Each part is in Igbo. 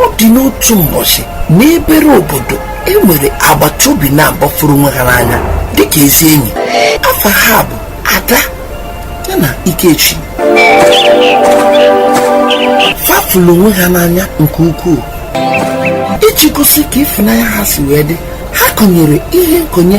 ọ dị n'otu mbọchị n'ebere obodo e nwere agbata obi naabọ fụrụ onwe ha n'anya dịka ezi enyi afa ha bụ ada ya na ikechi fa fụlụ onwe ha n'anya nke ukwuu iji gosi ka ịfụnanya ha si wee dị ha kọnyere ihe nkọnye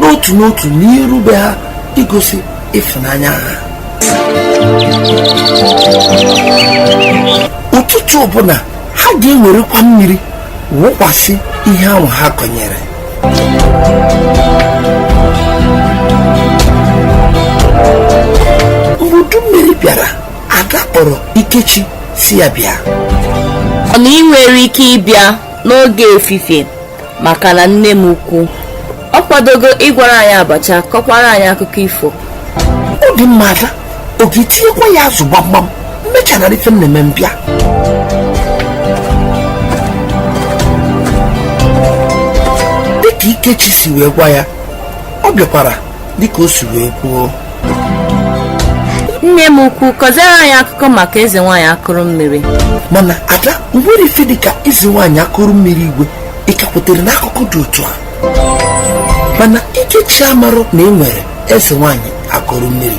n'otu n'otu n'iru be ha igosi ịfụnanya ha ụtụtụ ọbụla ha ga-ewerekwa mmiri wụkwasị ihe ahụ ha kọnyere mgbe udu mmiri bịara ada kpọrọ ikechi sị ya bịa ọ na ị nwere ike ịbịa n'oge efifie maka na nne m ukwu ọ kwadogo ịgwara anyị abacha kọkwara anyị akụkọ ifo ọ dị mma ada ọ ga-etinyekwa ya azụ gbamgbam m mechara ife m na-eme m bịa dịka ikechi si wee gwa ya ọ bịakwara dịka o si wee kwuo nne m ukwu kọziere anyị akụkọ maka eze nwaanyị akụrụ mmiri mana ada o nwere ife dịka eze nwaanyị akụrụ mmiri igwe ị ka kwetere n'akụkọ dị otu a mana ikechi amarụ na e nwere eze nwaanyị akụrụ mmiri